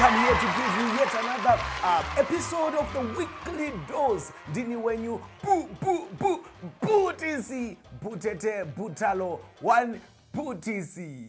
I'm here to give you yet another uh, episode of the weekly dose. Dini wenyu bu bu bu butisi butete butalo one butisi.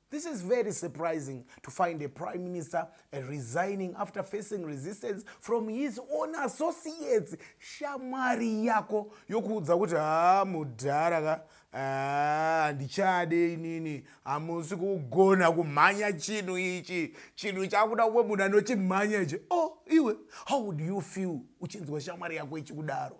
This is very surprising to find a prime minister uh, resigning after facing resistance from his own associates. Shamwari yako yokuudza kuti haa mudhara ka handichade inini hamusi kugona kumhanya chinhu ichi chinhu chakuda kumwe munhu anochimhanya ichi o oh, iwe how would you feel uchinzwa shamwari yako ichikudaro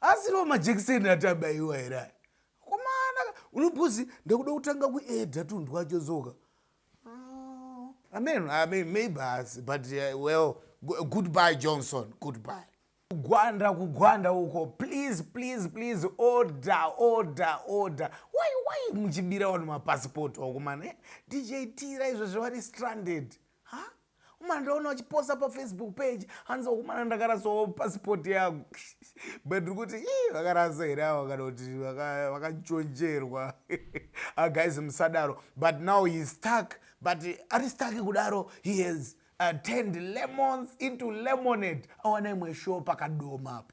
asiriwo majekiseni ati abaiwa here aya komana unobhuzi ndakuda kutanga kuedha tunhu twacho dzoka amen ah, amen maybe asi but uh, well goodbye johnson goodbye kugwanda kugwanda uko please please please order order order why why muchibira vanhu mapasipoti wakomana eh? dj tira izvo zvavari stranded ha huh? umana ndaona uchiposta pafacebook page hanzi wakumana ndakarasawo passport yangu but ndiri kuti i vakarasa here ava kana kuti vakanchonjerwa aguys ah, musadaro but now he stuck but ari stuck kudaro he has uh, turned lemons into lemonade awana imwe show pakadoma apo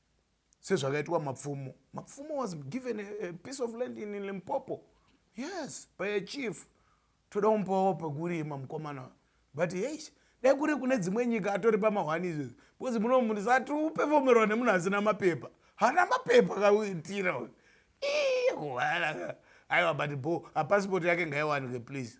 sezvakaitwa mapfumo mapfumo was given a, a piece of land in limpopo yes by a chief toda kumbawo pekurima mukomana but yes dai kuri kune dzimwe nyika atori pamahwani izvezvi because muno munhu sati upefomerwa nemunhu asina mapepa hana mapepa kaitira uyu iiwalaka aiwa but bo apasipoti yake ngaiwanike please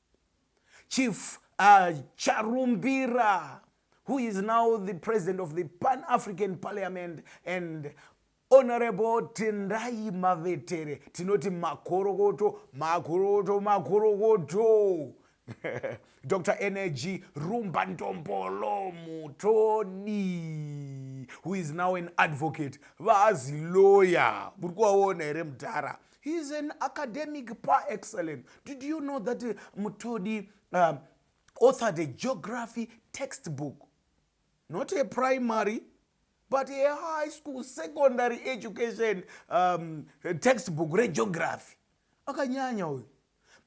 chief uh, charumbira who is now the president of the pan african parliament and honorable tendai mavetere tinoti makorokoto makorokoto makorokoto dr energy rumba ndombolo mutodi who is now an advocate vaazi lawyer muri kuvaona here mudhara he is an academic par excellent did you know that uh, mutodi um, authored a geography textbook not a primary but a high school secondary education um, textbook regeography akanyanya uyu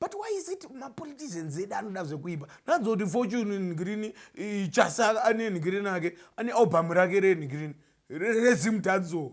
but why is it mapoliticians edu anoda zvekuiba nanzo kuti fortune nigrini chasa ane nigrini ake ane album rake renigrini rezimtanzo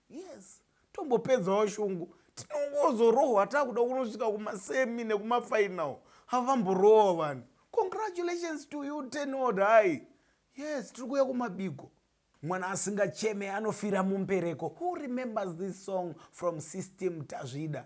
yes tombopedzawo shungu tinongozorohwa takuda kunosvika kumasemi nekumafinal havamborohwa vanhu congratulations to you tenod hai yes tiri kuya kumabigo mwana asingacheme anofira mumbereko who remembers this song from system tazvida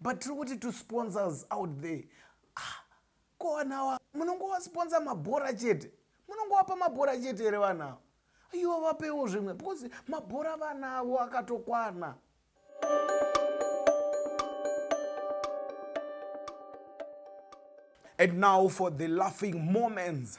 but tiri kuti to sponsors out there ah, ko vanhu ava munongovasponsor mabhora chete munongovapa mabhora chete here vanhu ava iwo vapewo zvimwe because mabhora vana avo akatokwana and now for the laughing moments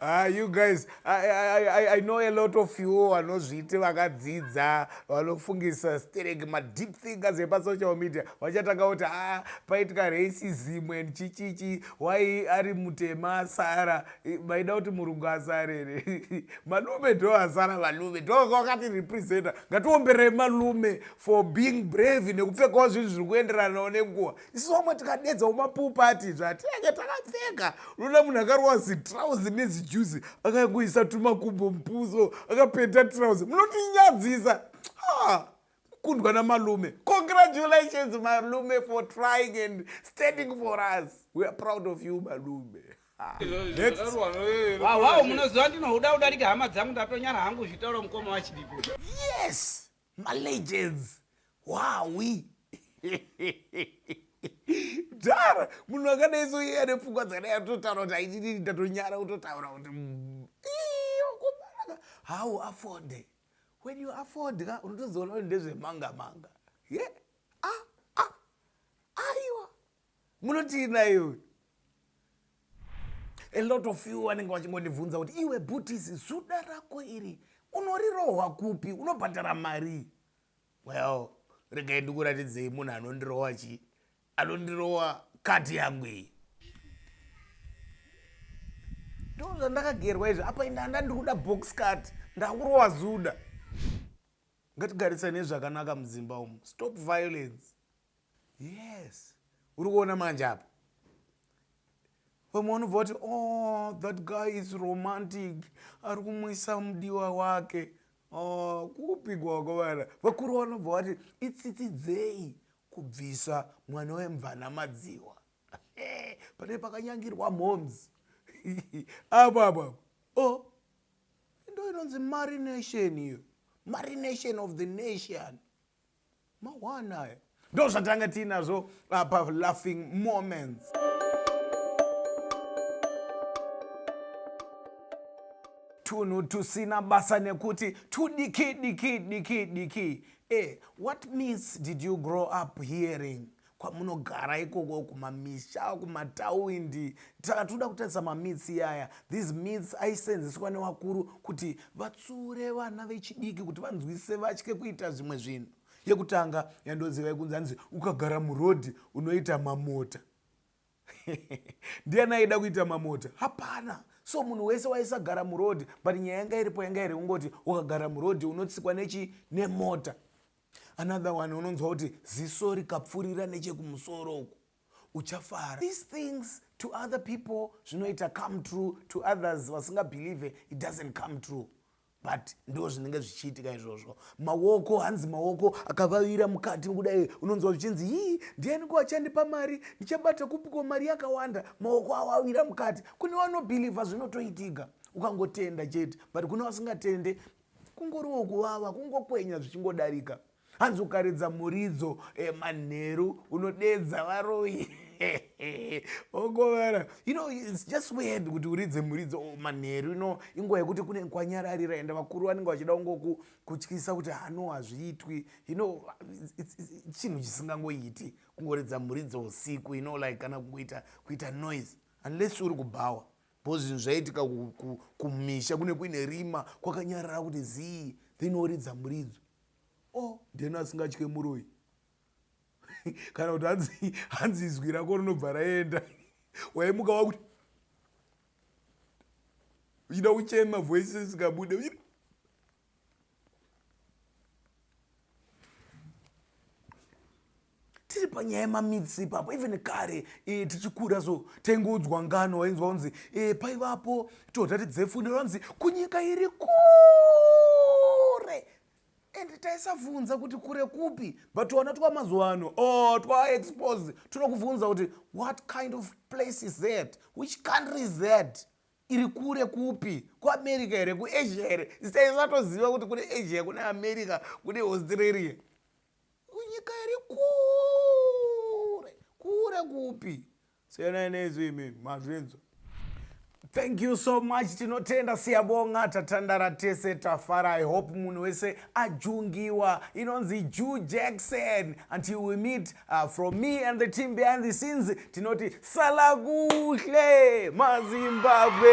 Ah, you guys, I, I, I, I know a lot of you vanozviti vakadzidza vanofungisa sterek madeep thinkers epasocial media vachatanga kuti a ah, paitika racism and chichichi why ari mutema asara maida kuti murungu asara here malume ndo asara malume ndokakati representa ngatiomberei malume for being brave nekupfekawo zvinhu zviri kuenderanawo nenguva isu vamwe tikadedzawo mapopati zvati ake takapfeka unoona munhu akarowa zitrauzi nezijuzi akangoisa tumakumbo mupuso akapeta trauzi munotinyadzisa kukundwa namalume congratulations malume for trying and standing for us we are proud of you malume wawawo munoziva ndinohuda kudarika hama dzangu ndatonyara hangu zvitaura mukoma wachidipo yes malegends hwawi dhara munhu akadai so iye ane pfungwa dzakadai atotaura kuti aitititi ndatonyara kutotaura kuti mm, iyokobanaka how afode when you afford ka unotozoona kuti ndezvemanga manga ye yeah? munotii naye uyu a lot of you vanenge vachingondibvunza kuti iwe bhutisi zuda rako iri unorirohwa kupi unobhadhara mari well regai ndikuratidzei munhu anondirohwa chii anondirohwa kati yangu iyi ndo zvandakagerwa izvi apa inda anda ndiri kuda box cut ndakurohwa zuda ngatigarisane zvakanaka mudzimba umu stop violence yes uri kuona manje apa vamwe vanobva vati oh that guy is romantic ari kumwisa mudiwa wake oh, kupigwa kwavana vakuru vanobva vati itsitsidzei kubvisa mwana wemvana madziwa pane pakanyangirwa moms apo apo apo o oh, ndo inonzi marination iyo marination of the nation mawana aya ndo zvatanga tiinazvo uh, pa laughing moments tunhu tusina basa nekuti tudiki diki diki diki e what means did you grow up hearing kwamunogara ikoko kumamisha kumatawindi saka tinoda kutarisa mamitsi iyaya these mits aisenzeswa newakuru kuti vatsure vana vechidiki kuti vanzwisise vatye kuita zvimwe zvinhu yekutanga yandozivai kunzi anzi ukagara murodhi unoita mamota ndiani aida kuita mamota hapana so munhu wese waisagara murodhi but nyaya yanga iripo yanga iri kungoti ukagara murodhi unotsikwa nechi nemota another one unonzwa kuti ziso rikapfurira nechekumusoro uku uchafara these things to other people zvinoita come true to others vasingabhelieve it doesn't come true but ndo zvinenge zvichiitika izvozvo maoko hanzi maoko akavavira mukati kudai unonzwa zvichinzi hii ndiani ko achandipa mari ndichabata kupiko mari yakawanda maoko awavira mukati kune vanobhilivha zvinotoitika ukangotenda chete but kune vasingatende kungoriwo kuvava kungokwenya zvichingodarika hanzi ukaridza muridzo eh, manheru unodedza varoyi ogovara you know it's just weird kuti uridze muridzo oh, manheru ino inguva yekuti kune kwanyararira ende vakuru vanenge vachida kungoku kutyisa kuti hano hazviitwi you know chinhu chisingangoiti kungoridza muridzo usiku you know like kana kuita kuita noise unless uri kubhawa bcause zvinhu zvaiitika kumisha kune kuine rima kwakanyarara kuti zii then oridza muridzo o oh, ndeno asingatye muroi kana kuti hanzi hanzi izwi rako rinobva raenda waimuka wakuti uchida kuchema voice isikabude tiri panyaya yemamitsi ipapo even kare e, tichikura so taingoudzwa ngano wainzwa kunzi e, paivapo todhati dzefunde vanzi kunyika iri kure and taisabvunza kuti kure kupi but wana twamazuva ano o oh, twaexpose tunokubvunza kuti what kind of place is that which country is that iri kure kupi kuamerica here kuasia here sitaisatoziva kuti kune asia kune america kune australia nyika iri kure kure kupi siyanai neizvo imi mazvinzwa thank you so much tinotenda siyabonga tatandara tese tafara i hope munhu wese ajungiwa inonzi jew jackson until we meet uh, from me and the team behind the scenes tinoti salakuhle mazimbabwe